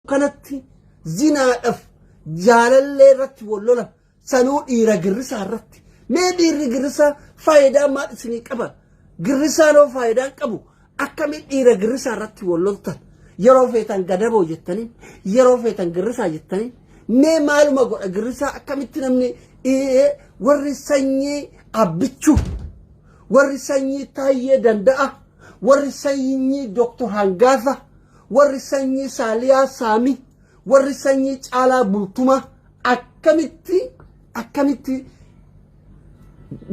kanatti zinaadhaf jaalallee irratti wal lola sanuu dhiira girrisaa irratti mee dhiirri girrisaa faayidaa maal isinii qaba girrisaan hoo faayidaan qabu akkamii dhiira girrisaa irratti wal loltan yeroo feetan gadaboo jettanii yeroo feetan girrisaa jettanii mee maaluma godha girrisaa akkamitti namni ee, warri sanyii abbichuu warri sanyii taayyee danda'a warri sanyii doktor hangaafa Warri sanyii Saaliyaa Saami, warri sanyii Caalaa Bultuma akkamitti akkamitti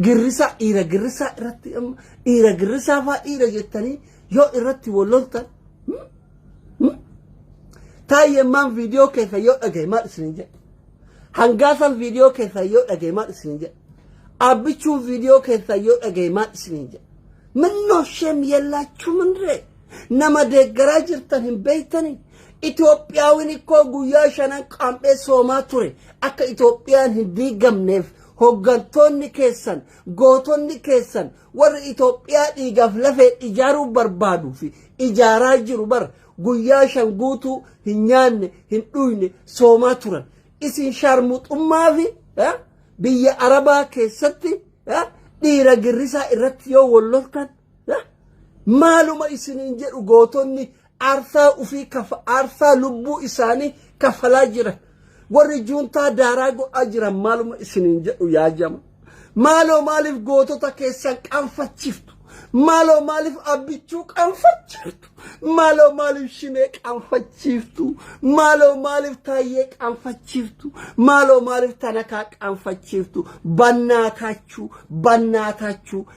girrisaa dhiira girrisaa irratti amma dhiira girrisaa faa dhiira jettanii yoo irratti wal loltan hmm? Hmm? taayee maan viidiyoo keessa yoo dhagaye maal isin jedhe hangaasan viidiyoo keessa yoo dhagaye maal isin jedhe abbichuun viidiyoo keessa yoo dhagaye maal isin jedhe minnoo shem yellaachuu mindree Nama deeggaraa jirtan hin beektanii? Itoophiyaawin ikkoo guyyaa shanan qaam'ee soomaa ture akka Itoophiyaan hin diigamneef hoggantoonni keessan gootonni keessan warri Itoophiyaa dhiigaaf lafee ijaaruu barbaaduu fi ijaaraa jiru bar guyyaa shan guutuu hin nyaanne hin dhuyne soomaa turan isin shaarmuxummaa fi biyya arabaa keessatti dhiira girrisaa irratti yoo walloltan Maaluma isiniin jedhu gootonni aarsaa ufii kafa aarsaa lubbuu isaanii kafalaa jira. Warri juuntaa daaraa godhaa jiran maaluma isiniin jedhu yaa jama. Maaloo maaliif gootota keessan qaanfachiiftu? Maaloo maaliif abbichuu qaanfachiiftu? Maaloo maaliif shinee qaanfachiiftu? Maaloo maaliif taayyee qaanfachiiftu? Maaloo maaliif tanakaa qaanfachiiftu? Bannaataachuu, bannaataachuu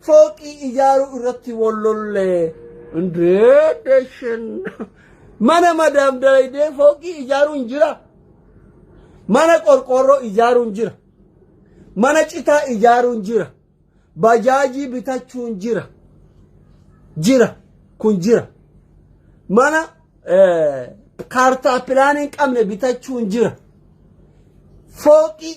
Fooqii ijaaruu irratti wal lollee. Indee deshin. Mana madaam dalaydee fooqii ijaaruun jira. Mana qorqoorroo ijaaruun jira. Mana citaa ijaaruun jira. Bajaajii bitachuun jira. Jira. Kun jira. Mana eh, kaartaa pilaanii hin qabne bitachuun jira. Fooqii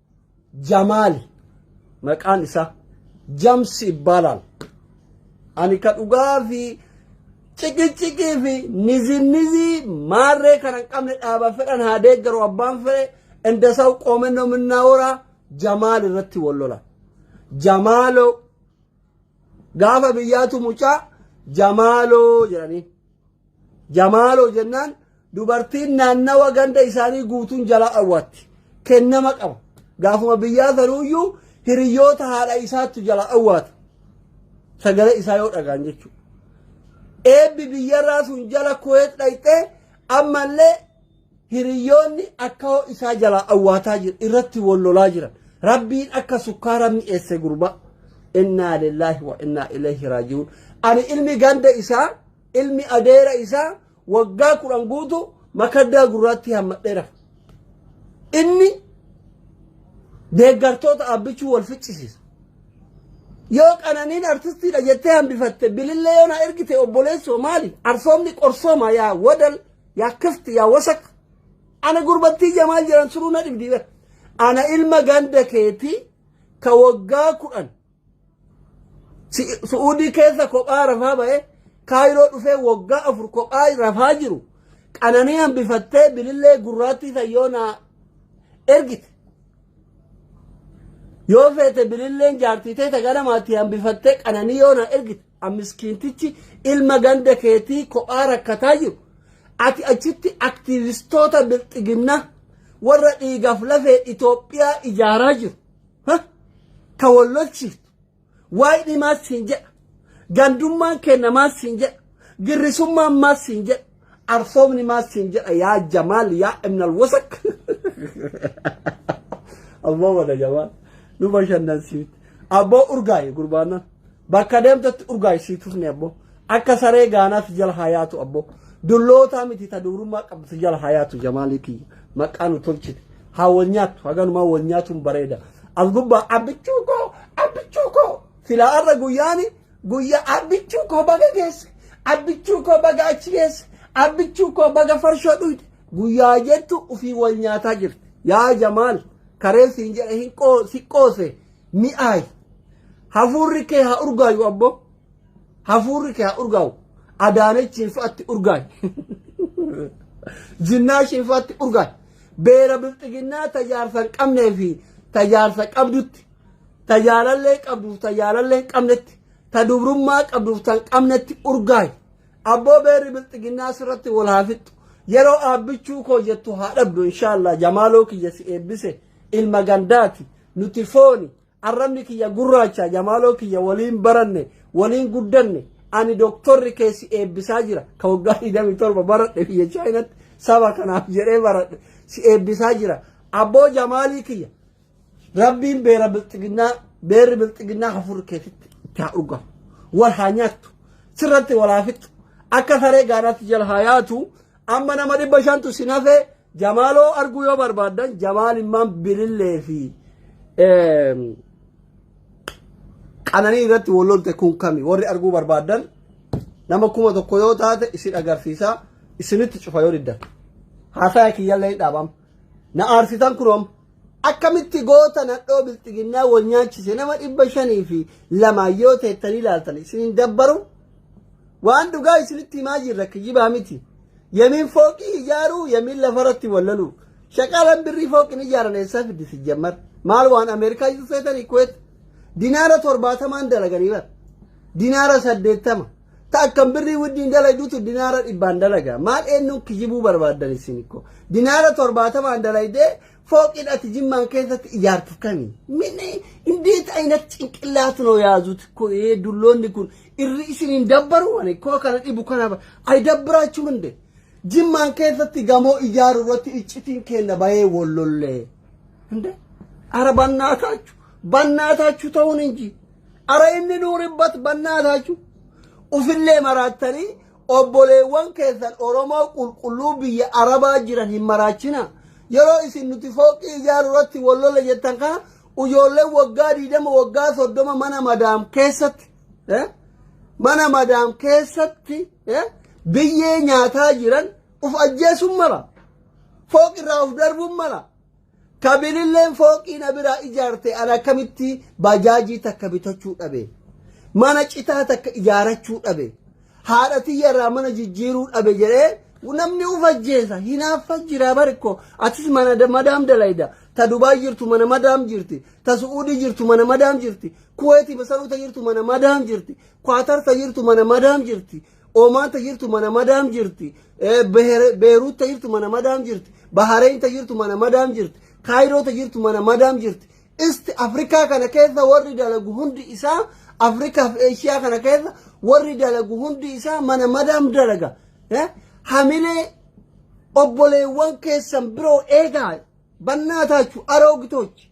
Jamaal maqaan isaa Jamsi Ibbaalaal. Ani ka dhugaa fi ciqiciqii fi nizinnizii maarree kana hin qabne dhaaba fedhan haa deeggaru abbaan fedhe indasaw qoomennoo minnaa horaa Jamaal irratti wal lola. Jamaaloo Gaafa biyyaatu mucaa jamaaloo jedhanii. Jamaaloo jennaan dubartiin naannawa ganda isaanii guutuun jalaa awwaatti. Kennama qaba. Gaafuma biyyaa sanuuyyuu hiriyoota haadha isaattu jalaa awwaata. Sagalee isaa yoo dhagaan jechuudha. Eebbi biyyarraa sun jala kuweet dhayxee ammallee Hiriyyoonni akka hoo isaa jalaa awwaataa jiru irratti wal lolaa jiran rabbiin akka sukkaara mi'eesse gurbaa innaa lillaahi wa innaa ilayhi raaji'uun ani ilmi ganda isaa ilmi adeera isaa waggaa kudhan guutu makaddaa gurraatti hammadheera inni deeggartoota abbichuu wal ficcisiisa yoo qananiin artistiidha jettee hambifatte bilillee yoo na ergite obboleessoo maali arsoomni qorsooma yaa wadal yaa kifti yaa wasak ana gurbattii jamaal jedhan suruu na dhibdii bar ana ilma ganda keetii ka waggaa kudhan Si- su'uudii keessa kophaa rafaa ba'ee kaayiroo dhufee waggaa afur kophaa rafaa jiru qananii hambifattee bilillee gurraattii sayyoo naa ergite yoo feete bililleen jaartii teeta ganamaatti hambifattee qananii yoo naa ergite Miskiintichi ilma ganda keetii kophaa rakkataa jiru. Ati achitti aktiivistoota bilxiginnaa warra dhiigaaf lafee Itoophiyaa ijaaraa jiru. Ka wal lolchiiftu. Waayidhi maas siin jedha. Gandummaan kenna maas siin jedha. Girrisummaan maas siin jedha. Arsoomni maal siin jedha yaa Jamaal yaa Ibnal Wasak. Abboo wada Jamaal nu bashannansiifte. Abboo urgaayi gurbaannan bakka deemtetti urgaayi sii tufne abboo akka saree gaanaa si jala haa yaatu abboo dullootaa miti ta duurummaa qabdu si jala haa yaatu Jamaalii kiyya maqaa nu tolchite haa wal nyaattu haganumaa wal nyaatuun bareeda as gubbaa abbichuu koo abbichuu koo silaa arra guyyaani Guyya abbichuu koo baga geesse abbichuu koo baga achi geesse abbichuu koo baga farshoo dhuyde guyyaa jettu ufii wal nyaataa jirti yaa jamaal kareen siin jedhe hin qoo si qoose mi'aayi hafuurri kee haa urgaayu abbo hafuurri kee haa urgaawu adaanechiin fa'atti urgaayi jinnaashiin fa'atti urgaayi beera bilxiginnaa tajaarsa hin qabnee fi tajaarsa qabdutti ta jaalallee qabduuf ta jaalallee hin qabnetti ta dubrummaa qabduuf ta hin qabnetti urgaayi abboo beerri bilxiginnaa sirratti wal haa fixxu yeroo aabbichuu koo jettu haa dhabdu inshaallah jamaaloo kiyya si eebbise ilma gandaati nuti fooni arrabni kiyya gurraacha jamaaloo kiyya waliin baranne waliin guddanne ani doktorri kee si eebbisaa jira ka waggaa 27 baradhe biyya chaayinatti saba kanaaf jedhee baradhe si eebbisaa jira abboo jamaalii kiyya Rabbiin beera bilxiginnaa beerri bilxiginnaa hafuurri keetitti itti haa dhugamu. Wal haa nyaattu. Sirratti wal haa fixxu. Akka saree gaanaatti jala haa yaatu. Amma nama dhibba shantu si nafee jamaaloo arguu yoo barbaaddan jamaal immaan bilillee fi eem, qananii irratti wal lolte kun kami warri arguu barbaaddan nama kuma tokko yoo taate isin agarsiisa isinitti cufa yoo diddan. Haasaya kiyyallee hin dhaabama. Na aarsitan kun amma. Akkamitti goota nadhoo bilxiginnaa wal nyaachise nama dhibba shanii fi lamaa yoo teettanii ilaaltan isin hin dabbaru? Waan dhugaa isinitti himaa jirra kijibaa miti. Yamiin fooqii ijaaruu yamiin lafarratti wallaluu. Shaqaalaan birrii fooqin ijaaran eessaa fiddi si jammar. Maal waan Ameerikaa iyyuu seetanii kuweet. Dinaara torbaatamaan dalaganii bara. Dinaara saddeettama. Ta akkan birrii wajjin dalaydutu dinaara dhibbaan dalaga. Maal eenyuun kijibuu barbaaddan isin ko. Dinaara torbaatamaan dalaydee fooqiin ati jimmaan keessatti ijaartu kami. Minni indeet ayinat cinqillaat noo yaazut ko ee dulloonni kun irri isin hin dabbaru ani koo kana dhibu kana ba- ay dabbiraachuu hinde. Jimmaan keessatti gamoo ijaaru irratti iccitiin kenna bahee wollollee. Hinde? Ara bannaataachu. Bannaataachu ta'uun hin jiru. Ara inni nuuribbat bannaa taachuu ufillee maraattanii obboleewwan keessan Oromoo qulqulluu biyya Arabaa jiran hin maraachina. Yeroo isin nuti fooqii ijaaruu irratti wal lola jettan kana ijoolleen waggaa 20 waggaa 30 mana madaam keessatti eh, mana madaam keessatti eh, biyyee nyaataa jiran uf ajjeesuun mala. Fooqirraa uf darbuun mala. Ka bililleen fooqii na biraa ijaarte an akkamitti bajaajii takka bitachuu dhabe. Mana citaa takka ijaarachuu dhabe. Haadha tiyya irraa mana jijjiiruu dhabe jedhee namni uf ajjeesa hinaaffa jira barikko atis mana da- madaam dalayda ta dubaay jirtu mana madaam jirti ta su'uudii jirtu mana madaam jirti kuweeti masaruuta jirtu mana madaam jirti kwaatarta jirtu mana madaam jirti Omaan ta jirtu mana madaam jirti. Beeruut ta jirtu mana madaam jirti. Bahareen ta jirtu mana madaam jirti. Kaayiroo ta jirtu mana madaam jirti. Isti Afrikaa kana keessa warri dalagu hundi isaa Afrikaaf Eeshiyaa kana keessa warri dalagu hundi isaa mana madaam dalaga. Hamilee obboleewwan keessan biroo eegaa bannaa taachu aroogitochi.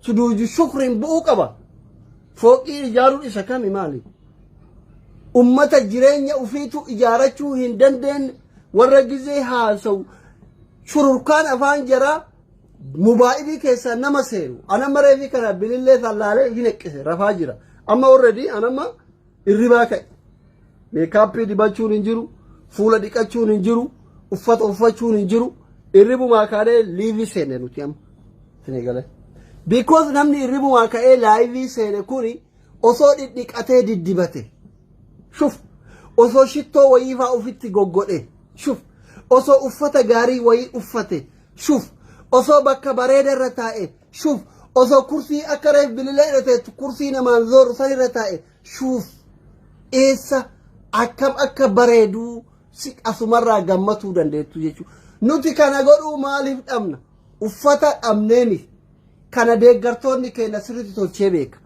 Suduuju shukriin bu'uu qaba. Fooqii ijaaruun isa kami maali? Ummata jireenya ufiitu ijaarachuu hin dandeenye warra gizee haasa'u shururkaan afaan jaraa mubaa'ibii keessaa nama seenu. Anamma reefii kana bilillee sallaalee hin eqqise rafaa jira. Amma already anamma Irribaa ka'i. Meekaappii dibachuun hin jiru, fuula dhiqachuun hin jiru, uffata uffachuun hin jiru. Irribumaa kaanee liivii seenne nuti amma. Sini galee. Because namni irribumaa ka'ee laayivii seene kuni osoo dhidhiqatee diddibate. Shuf. Osoo shittoo wayiifaa ofitti goggodhe. Shuf. Osoo uffata gaarii wayii uffate. Shuf. Osoo bakka bareeda irra taa'e. Shuuf osoo kursii akka reef bililee irra teettu kursii namaan zooru san irra taa'e shuuf eessa akkam akka bareeduu si asumarraa gammatuu dandeettu jechuudha. Nuti kana godhuu maaliif dhabna? Uffata dhabnee miti. Kana deeggartoonni keenya sirriitti tolchee beeka.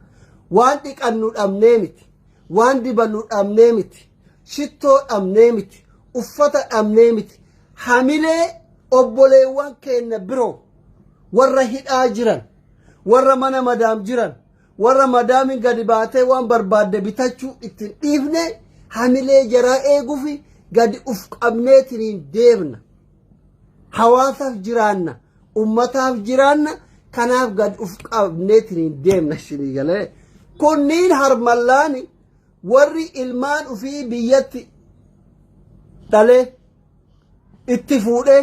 Waan dhiqannu dhabnee miti. Waan dibannu dhabnee miti. Shittoo dhabnee miti. Uffata dhabnee miti. Hamilee obboleewwan keenya biroo. warra hidhaa jiran warra mana madaam jiran warra madaamin gadi baatee waan barbaadde bitachuu ittiin dhiifne hamilee jaraa eeguufi gadi uf qabneetiniin deemna hawaasaaf jiraanna ummataaf jiraanna kanaaf gad uf qabneetiniin deemna isinii galee kunniin harmallaani warri ilmaan ufii biyyatti dhalee itti fuudhee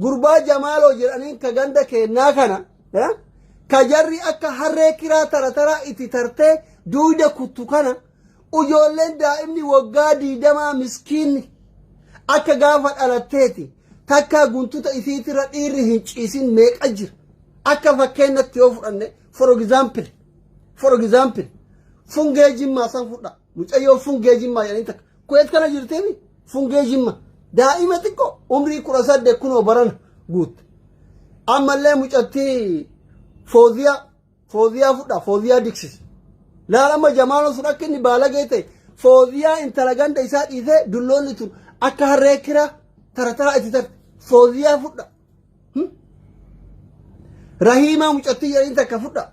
Gurbaa Jamaaloo jedhaniin ka ganda keennaa kana ka jarri akka harree kiraa tarataraa itti tartee duuda kuttu kana ijoolleen daa'imni waggaa diidamaa miskiinni akka gaafa dhalatteeti takkaa guntuta isiitirra dhiirri hin ciisin meeqa jira akka fakkeenyatti yoo fudhanne for example for example fungee jimmaa san fudhaa. Mucayyoo fungee jimmaa jedhanii takka. Kuweet kana jirteemi fungee jimma. Daa'ima xiqqoo umrii kudha saddeet kunoo barana guutte. Ammallee mucattii fooziyaa fooziyaa fudhaa fooziyaa diksis. Laal amma jamaaloo sun akka inni baalagee ta'e fooziyaa intala ganda isaa dhiisee dulloonni tun akka harree kiraa tarataa itti tarte fooziyaa fudhaa. Rahiimaa mucattii jedhanii takka fudha.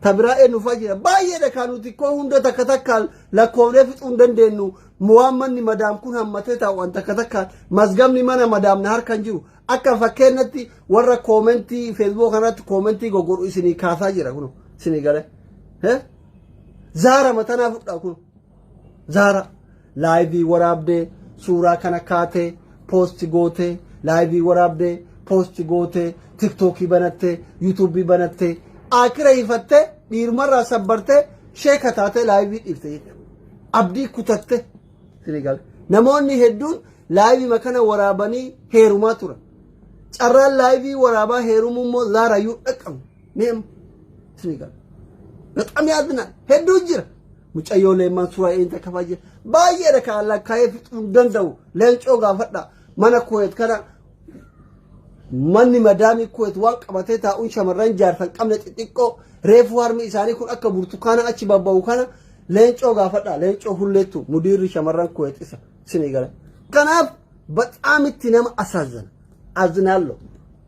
Ta biraa eenyufaa jira. Baay'eedha kan nuti koo hunda takka takkaan lakkoofnee fixuu hin dandeenyu. Waan manni madaam kun hammatee taa'uudhaan takka takkaan mazgamni mana madaam na harkaan jiru. Akka fakkeenyatti warra koomentii feesbuuk kanatti koomentii goggodhu isinii kaasaa jira kun isinii galee. Zaara matanaa fudhaa kun. Zaara laayivii waraabdee suuraa kana kaatee poosti gootee laayivii waraabdee poosti gootee tiktookii banattee yuutuubii banattee akira hifattee dhiirmarraa sabbartee sheeka taatee laayivii dhiifte jechuudha. Abdii kutatte sinigal. Namoonni hedduun laayivii kana waraabanii heerumaa turan. Carraan laayivii waraabaa heerumuu immoo zaarayyuu dhaqqabu. Meem isinii gala. Bexam yaadinaan hedduu jira. Mucayyoo leemmaan suuraa eenyu takka fa'aa jira. Baay'eedha kan allaa kaa'ee fixuu hin danda'u. Leencoo gaafadha. Mana kuweet kana manni madaamii kuweet waan qabatee taa'uun shamarran jaarsan qabne xixiqqoo reefuu harmi isaanii kun akka burtukaana achi babba'u kana leencoo gaafadha. Leencoo hulleettu mudiirri shamarran kuweet isa isinii gala. Kanaaf baxaamitti nama asaazana. Azinaallo.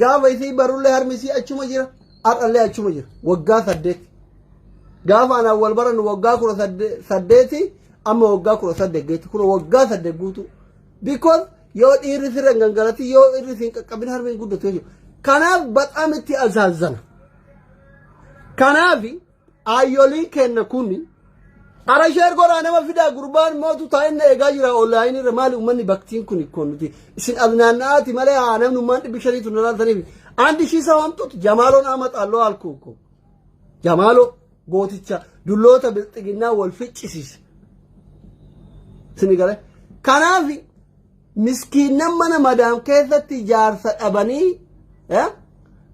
Gaafa isii barullee harmi isii achuma jira. Har'allee achuma jira. Waggaa saddeet. Gaafa anaan wal barannu waggaa kudha sadde- saddeeti amma waggaa kudha saddeet geetti. Kun waggaa saddeet guutuu. Because yoo dhiirri sirra hin gangalatin yoo dhiirri siin qaqqabin harmi hin guddatu jechuudha. Kanaaf baxaam itti azaazana. Kanaafi Aayyooliin keenna kun Ara sheer godhaa nama fidaa gurbaan mootu taa'inna eegaa jira onlaayinii irra maali uummanni baktiin kun ikkoo nuti isin as naanna'aati malee haa namni ummaan dhibbi shaniitu nu laaltaniif andi ishii isa waamtuutu jamaaloon ama xaalloo alkuu ko jamaaloo gooticha dulloota bilxiginnaa wal ficcisiise sini gale kanaafi miskiinnan mana madaam keessatti jaarsa dhabanii eh,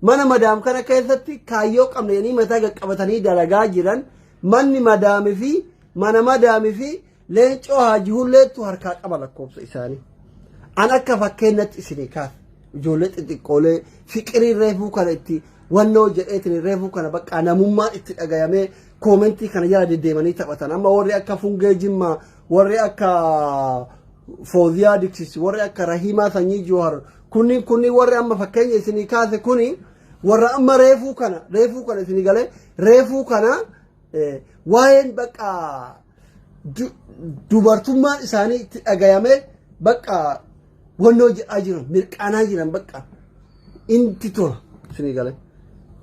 mana madaam kana keessatti kaayyoo qabna jedhanii mataa qaqqabatanii dalagaa jiran manni madaamii fi mana madaamii fi leencoo haaji hulleettu harkaa qaba lakkoofsa isaanii. An akka fakkeenyatti isinii kaas ijoollee xixiqqoolee fiqirii reefuu kana itti wannoo jedheetiin reefuu kana bakka namummaan itti dhagayamee koomentii kana jala deddeemanii taphatan amma warri akka fungee jimmaa warri akka Fooziyaa Diksisi warri akka Rahiimaa Sanyii Joohar kunniin kunniin warri amma fakkeenya isinii kaase kuni warra amma reefuu kana reefuu kana isinii galee reefuu kana eh, waa'een bakka du- dubartummaan isaanii itti dhagayamee bakka wannoo jedhaa jiran mirqaanaa jiran bakka inti tola isinii galee.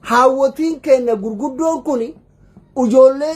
Haawwotiin keenya gurguddoon kuni ijoollee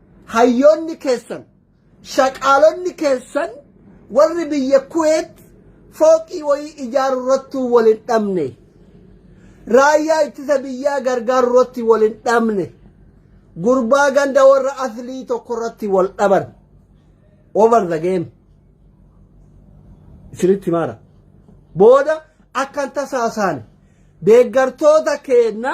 Hayyoonni keessan, shaqaalonni keessan warri biyya Kuweet fooqii wayii ijaarurrattuu wal hin dhabne. Raayyaa ittisa biyyaa gargaarurratti wal hin dhabne. Gurbaa ganda warra aslii tokkorratti wal dhaban. Over the game. Isinitti maara. Booda akkan tasaasaane deeggartoota keenna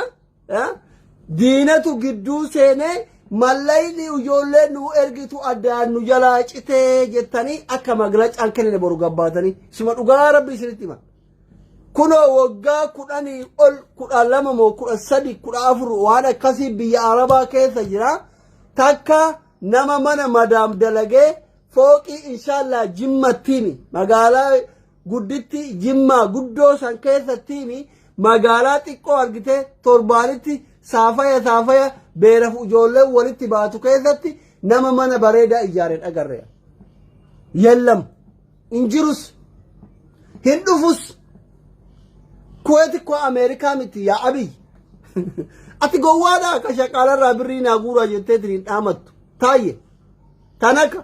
Diinatu gidduu seenee mallayni ijoollee nu ergitu addaan nu jalaa citee jettanii akka maglacaan kennine boru gabbaatanii sima dhugaa rabbi isinitti hima. Kunoo waggaa kudhanii ol kudha lama moo kudha sadi kudha afur waan akkasii biyya arabaa keessa jira takka nama mana madaam dalagee fooqii inshaallah jimmattiimi magaalaa gudditti jimmaa guddoo san keessattiimi magaalaa xiqqoo argitee torbaanitti saafaya saafaya beeraf ijoolleen walitti baatu keessatti nama mana bareedaa ijaaren agarre yellam hin jirus hin dhufus kuweeti koo ameerikaa miti yaa abiy ati gowwaadhaa ka shaqaalarraa birrii naa guuraa jettee tiriin dhaamattu taayye tanaka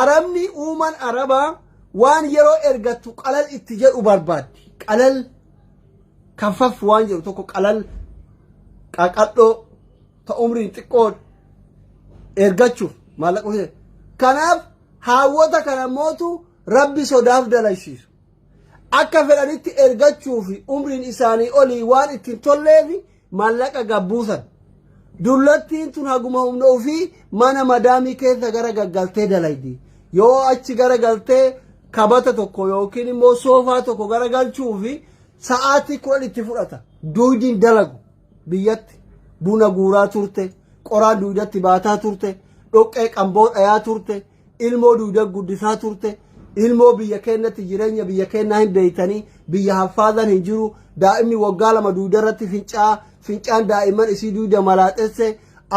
Arabni uuman arabaa waan yeroo ergattu qalal itti jedhu barbaaddi. Qalal kanfaf waan jedhu tokko qalal qaqadhoo ta umriin xiqqoo ergachuuf maallaqa hojjeta. Kanaaf haawwota kana mootu rabbi sodaaf dalaysiisu. Akka fedhanitti ergachuu fi umriin isaanii olii waan ittiin tolleefi Maallaqa gad buusan. Dullattiin tun haguma humna ofii mana madaamii keessa gara gaggaltee dalaydi. Yoo achi gara galtee kabata tokko yookiin immoo soofaa tokko gara galchuu fi sa'aatii kudhan itti fudhata. Duuydiin dalagu biyyatti buna guuraa turte, qoraan duuydatti baataa turte, dhoqqee qamboo dhayaa turte, ilmoo duuda guddisaa turte ilmoo biyya keenyatti jireenya biyya keenyaa hin beeytanii biyya haffaadan hin jiru daa'imni waggaa lama duuda irratti fincaa fincaan daa'imman isii duuda malaaxesse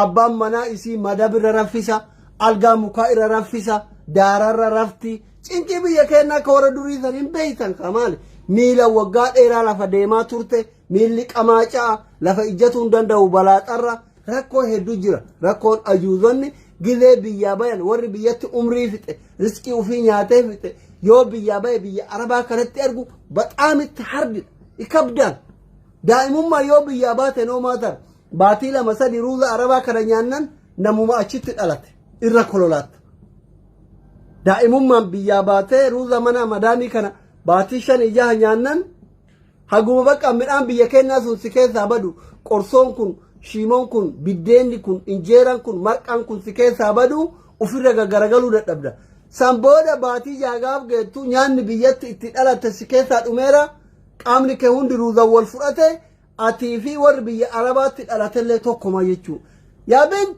abbaan manaa isii madab irra raffisa algaa mukaa irra raffisa daararra rafti cinqii biyya keenyaa akka warra durii san hin beeytan kamaali miila waggaa dheeraa lafa deemaa turte Miilli qamaacaa lafa ijjatuu hin danda'u balaaxarra rakkoo hedduu jira. Rakkoon ajuuzonni gilee biyyaa bayan warri biyyatti umrii fixe riskii ofii nyaatee fixe yoo biyyaa baye biyya arabaa kanatti argu baxaam itti hardidha. Ikabdaan daa'imummaa yoo biyyaa baate noomaa tara. Baatii lama sadii ruuza arabaa kana nyaannan namuma achitti dhalate irra kololaatta. Daa'imummaan biyyaa baatee ruuza mana madaamii kana baatii shan ijaha nyaannan Haguma bakka midhaan biyya kennaa sun si keessaa badu qorsoon kun shiimoon kun biddeenni kun injeeraan kun marqaan kun si keessaa badu ofirra gaggaragaluu dadhabda. San booda baatii jaagaaf geettu nyaanni biyyatti itti dhalatte si keessaa dhumeera qaamni kee hundi ruuzan wal fudhate atii fi warri biyya arabaatti dhalatellee tokkuma jechuudha. Yaa bint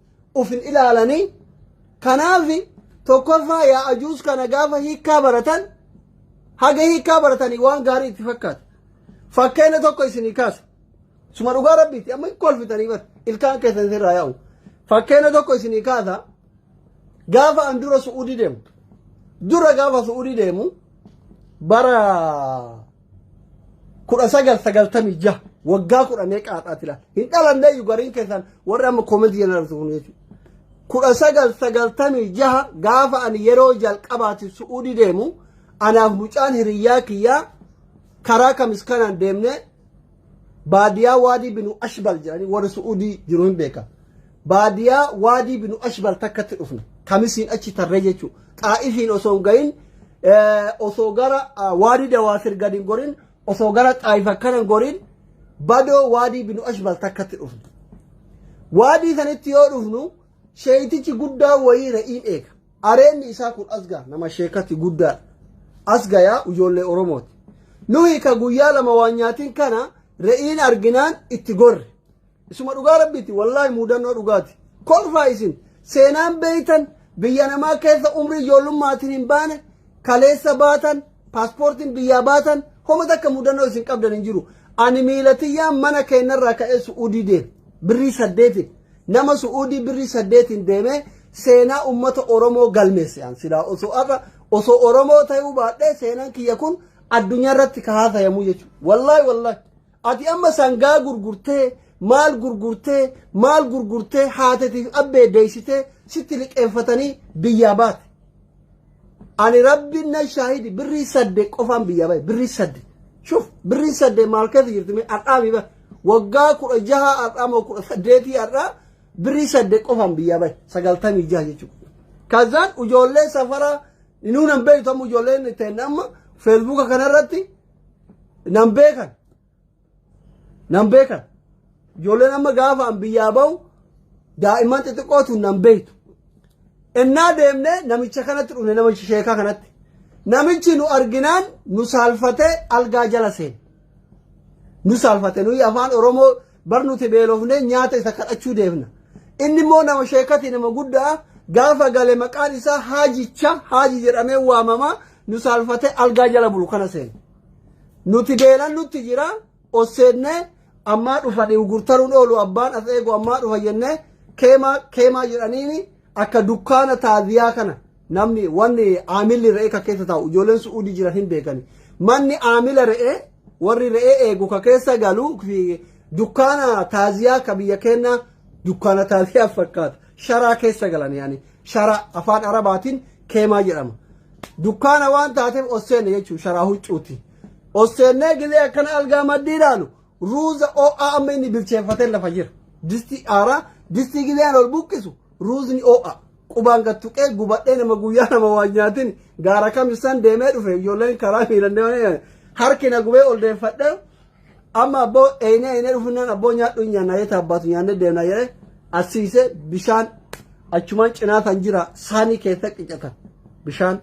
of hin ilaalanii kanaaf tokkoffaa yaa ajuus kana gaafa hiikkaa baratan haga hiikkaa baratanii waan gaarii itti fakkaata fakkeenya tokko isinii kaasa suma dhugaa rabbiitti amma kolfitanii bar ilkaan keessan sirraa yaa'u fakkeenya tokko isinii kaasa gaafa an dura su'uudii deemu dura gaafa su'uudii deemu bara kudha sagal sagaltamii jaha waggaa kudha meeqa haadhaati laata hin dhalanne iyyuu gariin keessaan warri amma koomentii jeneraalisu kun jechuudha. kudha sagal sagaltamii jaha gaafa ani yeroo jalqabaati su'uudii deemu anaaf mucaan hiriyyaa kiyyaa karaa kamis kanaan deemnee baadiyaa waadii binu ashbal jedhanii warri su'uudii jiru hin beeka baadiyaa waadii binu ashbal takkatti dhufne kamisiin achi tarree jechuu xaa'ifiin osoo hin gahin osoo gara waadii dawaasir gadi hin gorin osoo gara xaa'if akkana hin gorin badoo waadii binu ashbal takkatti dhufne waadii sanitti yoo dhufnu sheeytichi guddaa wayii ra'iin eega Areenni isaa kun asga nama sheekati guddaa asga yaa ijoollee Oromooti. Nuhi ka guyyaa lama waan nyaatiin kana re'iin arginaan itti gorre. Isuma dhugaa rabbiiti wallaahi muudannoo dhugaati. Kolfaa isin seenaan beeytan biyya namaa keessa umrii ijoollummaatiin hin baane kaleessa baatan paaspoortiin biyyaa baatan homa takka muudannoo isin qabdan hin jiru. Ani miilatiyyaan mana keenyarraa ka'ee su'uudii deema. Birrii saddeetiin. Nama su'uudii birrii saddeetiin deemee seenaa ummata Oromoo galmeesse an silaa osoo arra osoo Oromoo ta'uu baadhee seenaan kiyya kun addunyaa irratti ka haasayamu jechuudha. Wallaahi wallaahi. Ati amma sangaa gurgurtee maal gurgurtee maal gurgurtee haatetiif abbee deessitee sitti liqeeffatanii biyyaa baate. ani rabbiin na shaahidi birrii sadde qofaan biyyaa bahe birrii sadde shuf birrii sadde maal keessa jirti mee har'aa mi bahe waggaa kudha jaha har'aa moo kudha saddeetii har'aa birrii sadde qofaan biyyaa bahe sagaltamii jaha jechuudha kazaan ijoollee safaraa inuu nan beektu amma ijoolleen ta'e amma feesbuuka kanarratti nan beekan Nan beekan. Ijoolleen amma gaafa an biyyaa ba'u daa'imman xixiqqootu nan beektu. Ennaa deemnee namicha kanatti dhufne namicha sheekaa kanatti. Namichi nu arginaan nu saalfatee algaa jala seene. Nu saalfate nuyi afaan Oromoo bar nuti beelofnee nyaata isa kadhachuu deemna. Inni immoo nama sheekati nama guddaa gaafa gale maqaan isaa haajicha haaji jedhamee waamama nu saalfatee algaa jala bulu kana seene. Nuti beelan nutti jira osseennee ammaa dhufani gurtaruun oolu abbaan as eegu ammaa dhufa jennee keemaa keemaa jedhaniini akka dukkaana taaziyaa kana namni wanni aamilli re'ee ka keessa taa'u ijoolleen su'uudii jiran hin beekani. Manni aamila re'ee warri re'ee eegu ka keessa galu fi dukkaana taaziyaa ka biyya keenya dukkaana taaziyaa fakkaata. Sharaa keessa galan yaani sharaa afaan arabaatiin keemaa jedhama. Dukkaana waan taateef ol seenne jechuun sharaa huccuuti. Ol seennee gilee akkana algaa maddii ilaalu ruuza oo'aa amma inni bilcheeffatee lafa jira. Distii aaraa distii gileen ol buqqisu ruuzni oo'aa. Qubaan gad tuqee gubadhee nama guyyaa nama waan nyaatin gaara kamisaan deemee dhufe ijoolleen karaa miilan deemanii harki na gubee ol deeffadhee Amma abboo eeynee eeynee dhufunnaan abboo nyaadhu hin nyaanna jeeta abbaatu nyaannee deemna jedhee assiisee bishaan achumaan cinaa kan jira saanii keessa qicata bishaan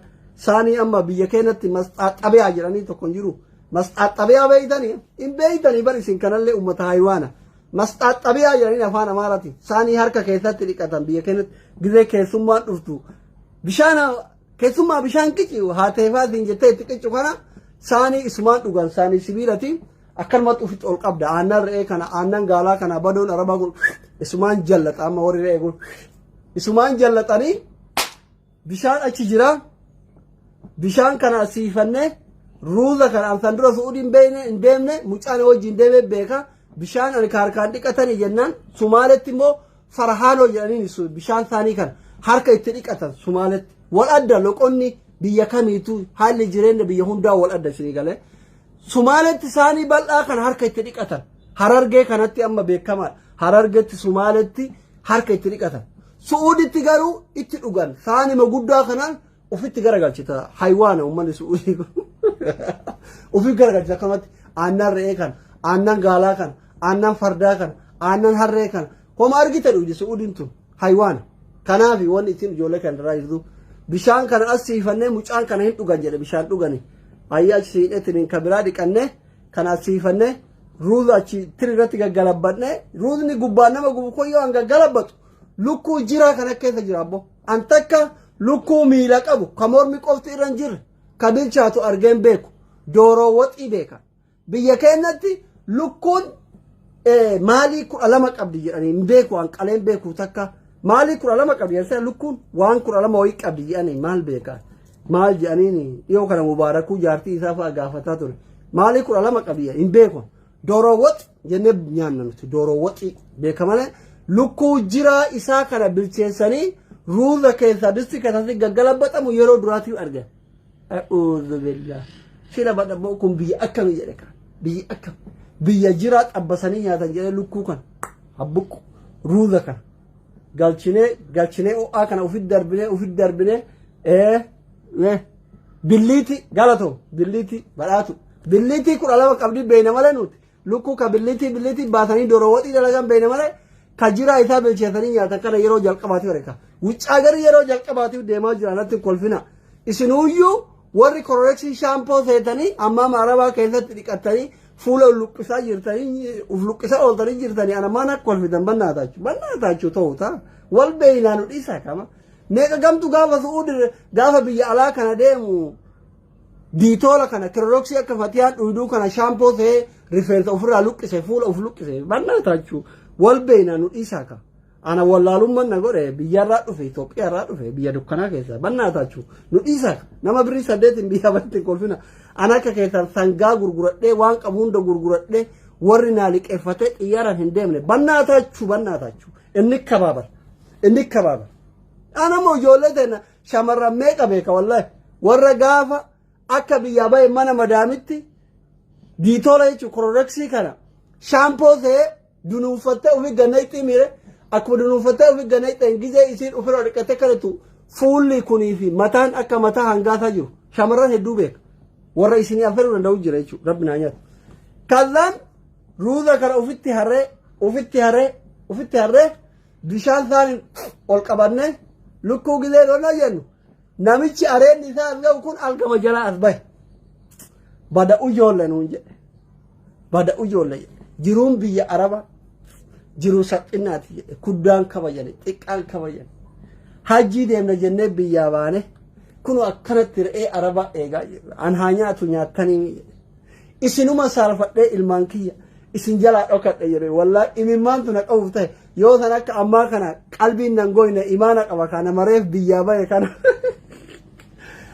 saanii amma biyya keenyatti masxaaxabiyaa jedhanii tokko hin jiru masxaaxabiyaa beeytanii hin beeytanii bar isin kanallee uummata haayiwaana masxaaxabiyaa jedhanii afaan amaarati saanii harka keessatti dhiqatan biyya keenyatti gizee keessummaan dhuftu bishaan Keessumaa bishaan qici haateefaa siin jettee itti qicu kana saanii isumaan dhugan saanii sibiilati akkanumatti ofitti ol qabda aannan re'ee kana aannan gaalaa kana badoon arabaa kun isumaan jallata amma warri re'ee kun isumaan jallatanii bishaan achi jira bishaan kana asiifannee ruuza kana ansan dura su'uudii hin beekne hin deemne mucaan wajjin deemee beeka bishaan ani kaarkaan dhiqatanii jennaan sumaaletti immoo Farahaaloo jedhaniin su- bishaan isaanii kan harka itti dhiqatan Sumaaletti. Wal adda loqonni biyya kamiitu haalli jireenya biyya hundaa wal adda isinii galee. Sumaaletti isaanii bal'aa kan harka itti dhiqatan. Harargee kanatti amma beekamaadha. Harargetti Sumaaletti harka itti dhiqatan. Su'uuditti garuu itti dhugan. Saanima guddaa kanaan Ufitti garagalchita haywaana uummanni su'uudii kun. Ufiif garagalchita akkamatti aannan re'ee kan aannan gaalaa kan aannan fardaa kan aannan harree kan homa argite dhugdi su'uudiin tun haywaana. Kanaaf wanni ittiin ijoollee kan irraa jirtu bishaan kana as siifannee mucaan kana hin dhugan jedhe bishaan dhugani. Ayyaa achi siidheetiin kan biraa dhiqannee kan as siifannee ruuza achi tiri irratti gaggalabbannee ruuzni gubbaan nama gubu kun yoo hanga galabbatu Lukkuu jiraa kana keessa jira abbo. An takka lukkuu miila qabu ka mormi qofti irra hin jirre ka bilchaatu argeen beeku. Dooroo waxii beeka. Biyya keenyatti lukkuun eh, maalii kudha lama qabdi jedhanii hin beeku an qaleen beeku takka maalii kudha lama qabdi jedhanii sana lukkuun waan kudha lama wayii qabdi jedhanii maal beeka maal jedhanii dhiyoo kana mubaarakuu jaartii isaa fa'a gaafataa ture maalii kudha lama qabdi jedhanii hin beeku dooroo waxi jennee nyaanna nuti dooroo waxii beeka malee lukkuu jiraa isaa kana bilcheessanii ruuza keessaa distii keessatti gaggalabaxamu yeroo duraatii arge. A'uudhu billah. Sila badhaboo kun biyya akkamii jedhe kan biyya akkam biyya jiraa xabbasanii nyaatan jedhee lukkuu kan habbuqqu ruuza kan galchinee galchinee ho'aa kana ofitti darbinee ofitti darbinee ee ee billiitii galatoo billiitii badhaatu billiitii kudha lama qabdii beeyna malee nuti. Lukkuu ka billitii billitii baasanii dora waxii dalagan beekna malee ka jiraa isaa bilcheessanii nyaatan kana yeroo jalqabaatiif argina. Wuccaa garii yeroo jalqabaatiif deemaa jira natti hin kolfina. Isinuyyuu warri kororeksii shaampoo seetanii ammaa maarabaa keessatti dhiqattanii fuula luqqisaa jirtanii uf luqqisaa ooltanii jirtanii ana maan akka kolfitan bannaa taachu bannaa taachu ta'u ta'a. Wal beeynaa nu dhiisaa kama. Meeqa gamtu gaafa su'uudi gaafa biyya alaa kana deemu Diitoola kana kirorooksii akka fatiyaan dhuyduu kana shaampoo ta'ee rifeensa ofirraa luqqise fuula of luqqise mannaa taachuu wal beeynaa nu dhiisaa ka. Ana wallaalumman na godhe biyyarraa dhufe Itoophiyaarraa dhufe biyya dukkanaa keessa mannaa taachuu nu dhiisaa ka. Nama birrii saddeetiin biyya baratti kolfina. Ana akka keessan sangaa gurguradhee waan qabu hunda gurguradhee warri naa liqeeffatee xiyyaaraan hin deemne mannaa taachuu mannaa taachuu inni kabaabara inni kabaabara. Ana immoo ijoollee teena Shamarran meeqa beeka wallahi warra gaafa akka biyyaa bahe mana madaamitti diitoola jechuun kororreksii kana shaampoo ta'ee dunuunfattee ofi ganna itti miire akkuma dunuunfattee ofi ganna itti gizee isiin ofirra dhiqattee kadhatu fuulli kunii fi mataan akka mataa hangaasaa jiru shamarran hedduu beeka warra isinii affeeruu danda'u jira jechuudha rabbi naa nyaatu. Kazaan ruuza kana ofitti harree ofitti harree ofitti harree Bishaan isaaniin ol qabannee lukkuu gilee loonaa jennu namichi areenni isaa as ga'u kun algama jalaa as bahe. Bada ujoolle nuun jedhe. Bada ujoolle jedhe. Jiruun biyya Araba jiruu salphinaati jedhe. Kuddaan kabajani, xiqqaan kabajani. Hajjii deemna jennee biyyaa baane. Kun akkanatti re'ee Arabaa eegaa jirra. An haa nyaatu nyaattanii jedhe. isinuma saalfadhee ilmaan kiyya isin jalaa dhokadhe jedhe wallaa imimmaan tuna qabuuf ta'e yoo san akka ammaa kana qalbiin nan gooyne imaana qaba kana mareef biyyaa bahe kana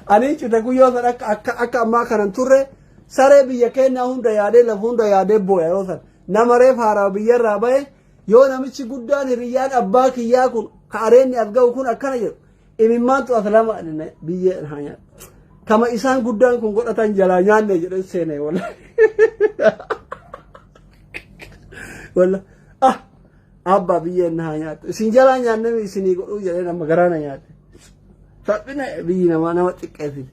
ani cita kun yoo san akka akka akka ammaa kanan turre saree biyya keenyaa hunda yaadee lafa hunda yaadee booya yoo san nama reef haaraa biyyarraa bahe yoo namichi guddaan hiriyyaan abbaa kiyyaa kun ka areenni as ga'u kun akkana jedhu Imimmaantu as lama biyyeen haa nyaatu. Kama isaan guddaan kun godhatan jalaa nyaanne jedhan seenee walla. Walla. Ah! Abbaa biyyeen na haa nyaatu. Isin jalaa nyaanne isinii godhuu jedhee nama garaa na nyaate. Saphina biyyi namaa nama xiqqeessiti.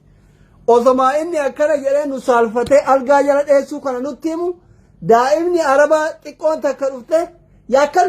Osomaa inni akkana jedhee nu saalfatee algaa jala dheessuu kana nutti himu daa'imni arabaa xiqqoon takka dhuftee yaakkal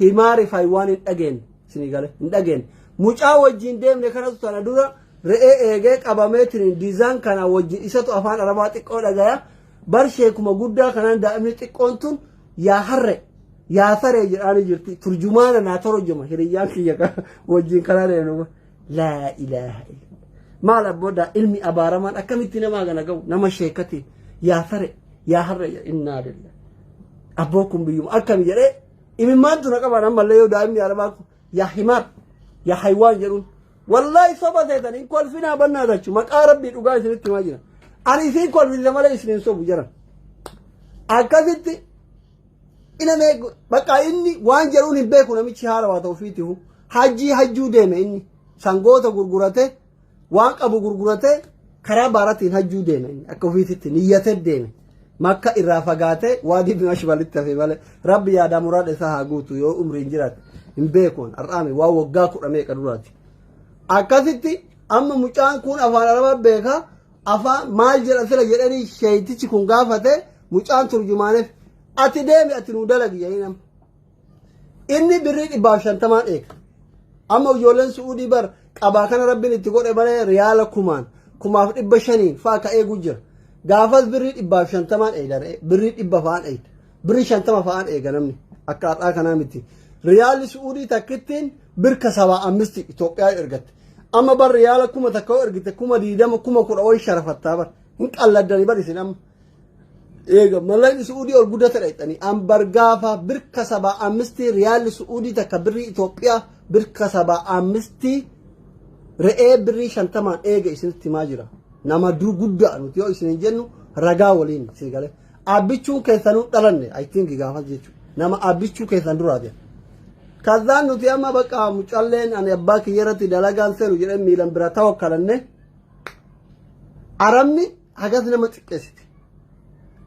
Himaa rifai waan hin dhageen isinii gale hin dhageen mucaa wajjin deemne kanatu tana dura re'ee eegee qabamee tiriin diizaan kanaa wajjin isatu afaan arabaa xiqqoo dhagaya bar sheekuma guddaa kanaan daa'imni xiqqoon tun yaa harre yaa saree jedhaanii jirti turjumaana naa torojuma hiriyyaan kiyya kana wajjin kanaa deemnu laa ilaaha illa maal abboodaa ilmi abaaramaan akkamitti namaa gana ga'u nama sheekati yaa sare yaa harre innaa lillah abboo kun biyyuma akkami jedhee Imimmaantu na qabaan ammallee yoo daa'imni arabaa kun yaa himaar yaa haywaan jedhuun. Wallaahi soba seetan hin kolfinaa bannaa tachu maqaa rabbii dhugaa isinitti himaa jira. Ani isin kolfise malee isin hin sobu jiran. Akkasitti ina mee bakka inni waan jedhuun hin beeku namichi haarawaa ta'u fiitihu hajjii hajjuu deeme inni sangoota gurguratee Waan qabu gurguratee karaa baaratiin hajjuu deeme inni akka ofiititti niyyatee deeme. Makka irraa fagaatee waadii bin ashbalitti hafe malee rabbi yaadaa muraada isaa haa guutu yoo umriin jiraate hin beekuun har'aame waa waggaa kudha meeqa duraati. Akkasitti amma mucaan kun afaan arabaa beekaa afaan maal jedha sila jedhanii sheeytichi kun gaafate mucaan turjumaaneef ati deemi ati nuu dalagi jedhanii nama. Inni birrii dhibbaaf shantamaan eega. Amma ijoolleen su'uudii bar qabaa kana rabbiin itti godhe malee riyaala kumaan kumaaf dhibba shaniin fa'a ka eeguu jira. Gaafas birrii dhibbaaf shantamaan eega re'ee birrii dhibba fa'aan eega. Birrii shantama fa'aan eega namni akka har'aa kanaa miti. Riyaalli su'uudii takkittiin birka sabaa ammisti Itoophiyaa ergatte. Amma bar riyaala kuma takka yoo ergite kuma diidama kuma kudha wayi sharafattaa bar. Hin qalladdani bar isin amma. Eega mallaqni su'uudii ol guddatadha jettanii ambar gaafa birka sabaa ammistii riyaalli su'uudii takka birrii Itoophiyaa birka sabaa ammistii re'ee birrii shantamaan eega isinitti himaa jira. Nama dur guddaa nuti yoo isin jennu ragaa waliin sii galee. Abbichuun keessanuu dhalanne I think gaafas jechuudha. Nama abbichuu keessan duraa jira. Kazaan nuti amma bakka mucalleen ani abbaa kiyya irratti dalagaan seenu jedhee miilan bira ta'u kalanne. Arabni hagas nama xiqqeessite.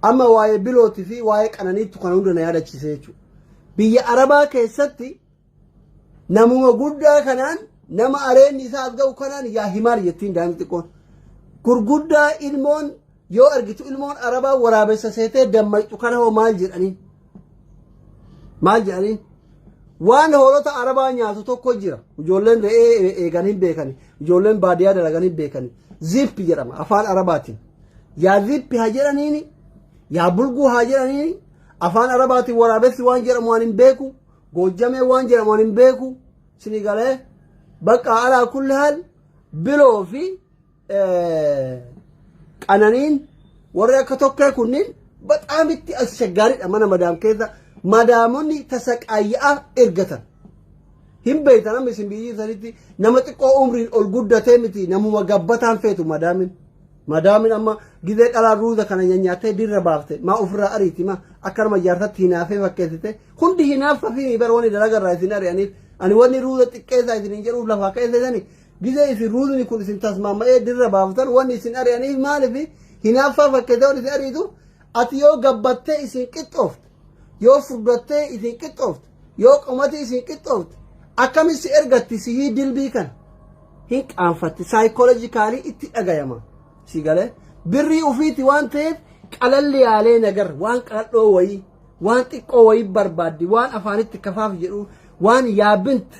Amma waa'ee bilootii fi waa'ee qananiittu kana hunda na yaadachiise jechuudha. Biyya Arabaa keessatti namuma guddaa kanaan nama areenni isaa as ga'u kanaan yaa himaar jettiin daa'imni xiqqoon. Gurguddaa ilmoon yoo argitu ilmoon Arabaa waraabessa seetee dammaqxu kana hoo maal jedhanii? maal jedhanii waan hoolota arabaa nyaatu tokko jira ijoolleen re'ee e- eegan hin beekani ijoolleen baadiyyaa dalagan hin beekani zippi jedhama afaan arabaatiin yaa zippi haa jedhaniini yaa bulguu haa jedhaniini afaan arabaatiin waraabessi waan jedhamu waan hin beeku goojjamee waan jedhamu waan hin beeku sinigalee bakka alaa kulli haal biloo fi qananiin warri akka tokkee kunniin bataam itti asshaggaariidha mana madaam keessa madaamonni tasaqaayyaa ergatan. Hin beektan amma isin biyyi sanitti nama xiqqoo umriin ol guddatee miti namuma gabbataan feetu madaamin. Madaamin amma gizee dhalaa ruuza kana nyanyaattee dirra baafte maa ofirraa ariiti maa akka nama jaarsatti hinaafee fakkeessite hundi hinaaffa fi bara wanni dalagarraa isin ari'aniif ani wanni ruuza xiqqeessaa isiniin jedhuuf lafaa keesseessani Gizee isin ruulni kun isin tasmaama'ee dirra baaftan wanni isin ari'aniif maaliif hinaaffaa fakkeessee wanni isin ariitu ati yoo gabbattee isin qixxoofte yoo furdattee isin qixxoofte yoo qomatii isin qixxoofte akkamis si ergatti sihii dilbii kana hin qaanfatti saayikoolojikaalii itti dhagayama si galee birrii ufiiti waan ta'eef qalalli yaalee nagar waan qaladhoo wayii waan xiqqoo wayii barbaaddi waan afaanitti kafaaf jedhu waan yaabinti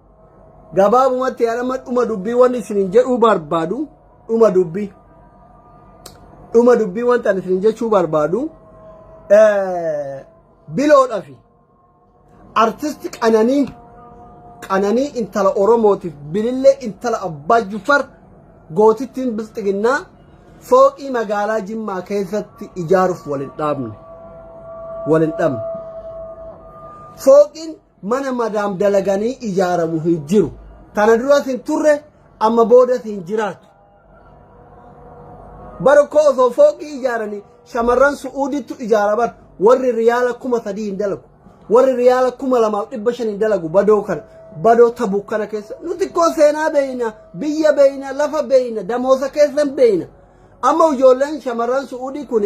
gabaabumatti an amma dhuma dubbii wanni isinin jedhuu barbaadu dhuma dubbii dhuma dubbii wanta an isinin jechuu barbaadu eh, biloodhafi artisti qananii qananii intala oromootiif bilillee intala abbaa jufar gootittiin bilxiginnaa fooqii magaalaa jimmaa keessatti ijaaruuf walin dhaabne walin dhabne fooqiin Mana madaam dalaganii ijaaramu hin jiru. Tana duras hin turre amma boodas hin jiraatu. Bara koo osoo fooqii ijaaranii shamarran su'uudittu ijaara bar warri riyaala kuma sadii hin dalagu. Warri riyaala kuma lamaaf dhibba shan hin dalagu badoo kana. Badoo tabuk kana keessa nuti koo seenaa beeyna biyya beeyna lafa beeyna damoosa keessan beeyna. Amma ijoolleen shamarran su'uudii kun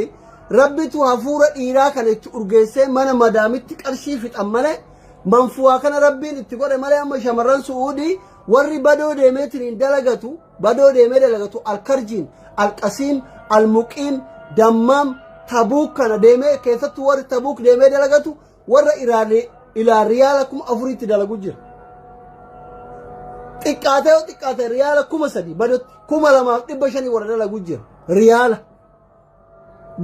rabbitu hafuura dhiiraa kana itti urgeessee mana madaamitti qarshii fixan malee manfuwaa kana rabbiin itti godhe malee amma shamarran su'uudii warri badoo deemeetiin dalagatu badoo deemee dalagatu alkarjiin alqasiim almuqiim dammaam tabuuk kana deemee keessattuu warri tabuuk deemee dalagatu Warra Iraan ilaa riyaala kuma afuriitti dalagu jira. Xiqqaatee yoo xiqqaate riyaala kuma sadii badutti kuma lamaaf dhibba shanii warra dalagu jira. Riyaala.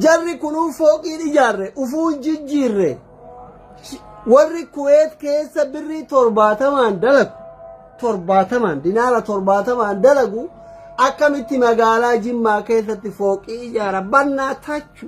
Jarri kunuu fooqiin ijaarre ufuun jijjiirre. Warri Kuweet keessa birrii torbaatamaan dalagu torbaatamaan dinaara torbaatamaan dalagu akkamitti magaalaa Jimmaa keessatti fooqii ijaara bannaa tachu.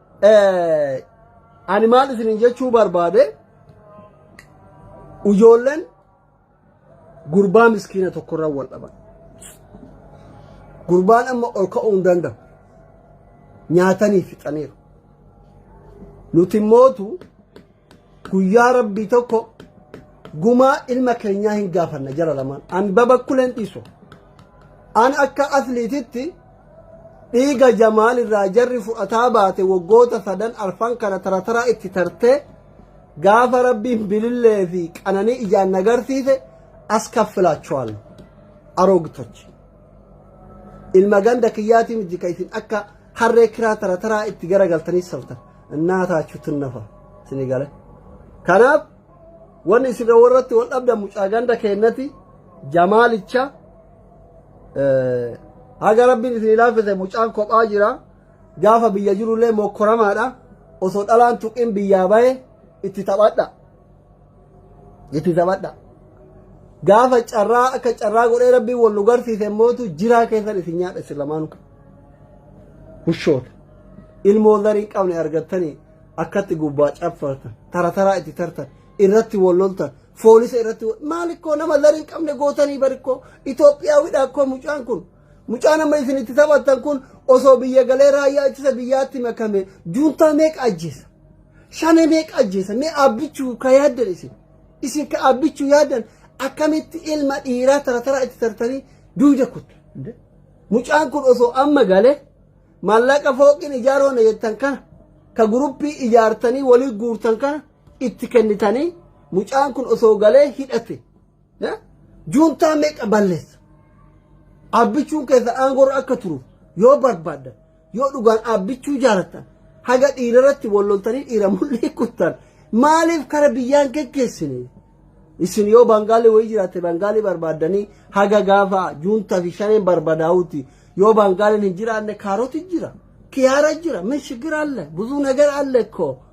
Ani maal isinin jechuu barbaade ijoolleen gurbaa miskiina tokkorra wal dhaban. Gurbaan amma ol ka'uu hin danda'u. Nyaatanii fixaniiru. Nuti mootu Guyyaa rabbii tokko gumaa ilma keenyaa hin gaafanna jara lamaan. An babakkuleen dhiisu. An akka asliititti dhiiga jamaal irraa jarri fudhataa baate waggoota sadan arfan kana tarataraa itti tartee gaafa rabbiin bilillee fi qananii ijaan nagarsiise as kaffilaachuwaan aroogitochi. Ilma ganda kiyyaatii miti ka isin akka harree kiraa tara taraa itti garagaltanii saftan innaa taachuu tunnafa isinii gale kanaaf wanni isin warratti wal dhabdan mucaa ganda keennati jamaalicha haga rabbiin isin ilaalfise mucaan kophaa jira gaafa biyya jirullee mokkoramaadha osoo dhalaan tuqin biyyaa bahe itti taphadha Itti taphadha. Gaafa carraa akka carraa godhee rabbiin wal nu garsiise immootu jiraa keessan isin nyaadha isin lamaanu. Hushoota. Ilmoo zarii hin qabne argattanii akkatti gubbaa caffartan tara taraa itti tartan irratti wal loltan foolisa irratti wal- maal ikkoo nama zarii hin qabne gootanii barikkoo Itoophiyaawidha akkoo mucaan kun. Mucaan amma isin itti taphattan kun osoo biyya galee raayyaa ittisa biyyaatti makame juuntaa meeqa ajjeesa? Shane meeqa ajjeesa? Mee abbichuu ka yaaddan isin. Isin ka abbichuu yaaddan akkamitti ilma dhiiraa tarataraa itti tartanii duuda kuttu. Mucaan kun osoo amma galee maallaqa fooqiin ijaaroona jettan kana ka guruppii ijaartanii walii guurtan kana itti kennitanii mucaan kun osoo galee hidhate. Juuntaa meeqa balleessa? Abbichuun keessan aangorra akka turu yoo barbaaddan yoo dhugaan abbichuu jaalattan haga dhiira irratti wal loltanii dhiira mul'ii kuttan maaliif kara biyyaan geggeessine? Isin yoo Bangaalee wayii jiraatte Bangaalee barbaaddanii haga gaafa juuntaa fi shaneen barbadaa'uuti yoo Bangaaleen hin jiraanne kaaroti jira. Kiyaara jira, mishigira alle, buzuu nagar alle koo.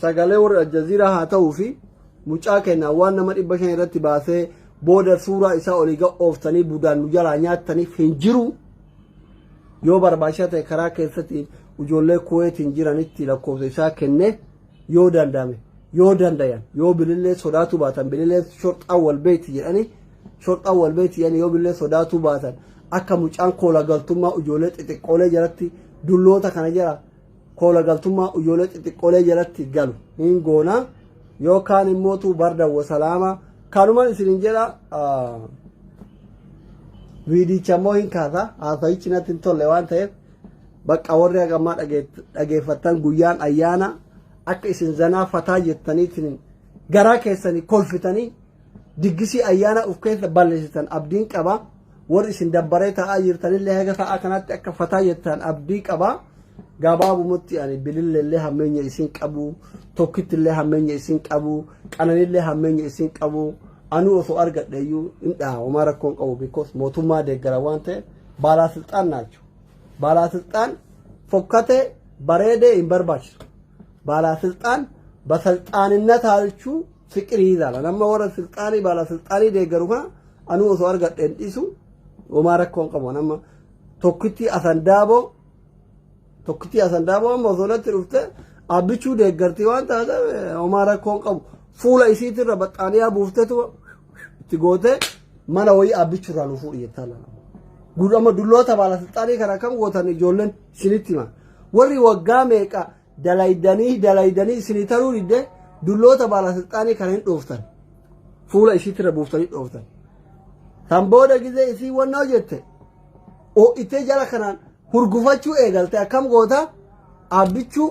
Sagalee warra Aljazeera haa ta'uu fi mucaa keenna waan nama dhibba shan irratti baasee booda suuraa isaa olii ga ooftanii budaan nu jalaa nyaattaniif hin jiru. Yoo barbaachisaa ta'e karaa keessatti ijoollee kuweetiin jiranitti lakkoofsa isaa kenne yoo danda'ame yoo dandayan yoo bilillee sodaatuu baatan bilillee shorxaa wal beekti jedhanii shorxaa wal beekti jedhanii yoo bilillee sodaatuu baatan akka mucaan koola galtummaa ijoollee xixiqqoolee jalatti dulloota kana jala koola galtummaa uyyoolee xixiqqoolee jalatti galu hin goona yookaan immoo tuu barda wasalaama kanuman isinin jedha viidicha immoo hin kaasa haasayichi natti hin tolle waan ta'eef bakka warri hagammaa dhageeffattan guyyaan ayyaana akka isin zanaa fataa jettaniitiin garaa keessanii kolfitanii diggisii ayyaana of keessa balleessitan abdiin qaba. Warri isin dabbaree taa'aa jirtanillee haga sa'a kanatti akka fataa jettan abdii qaba. Gabaabumatti ani bililleellee hammeenya isin qabu, tokkittillee hammeenya isin qabu, qananillee hammeenya isin qabu. Anuu osoo argadhe iyyuu hin dhaha homaa rakkoon qabu because mootummaa deeggara waan ta'eef baalaa silxaan naachu. Baalaa silxaan fokkatee bareedee hin barbaachisu. Baalaa silxaan basalxaaninna taalchuu Fiqirii ilaala. Nama warra silxaanii baala silxaanii deeggaru kana anuu osoo argadheen dhiisu homaa rakkoon qabu. Nama tokkitti asan daaboo tokkitti asan daaboo amma osoo natti dhufte abbichuu deeggartii waan taateef homaa rakkoon qabu. Fuula isiitirra baxxaaniyaa buuftetu itti gootee mana wayii abbichurraa nu fuudhi jettaa laala. Gudama dulloota baala silxaanii kana kam gootan ijoolleen isinitti hima. Warri waggaa meeqa dalaydanii dalaydanii isinii taruu didde dulloota baalasilxaanii kana hin dhooftan fuula isiitirra buuftanii dhooftan san booda gizee isii wannoo jette ho'itee jala kanaan hurgufachuu eegalte akkam goota abbichuu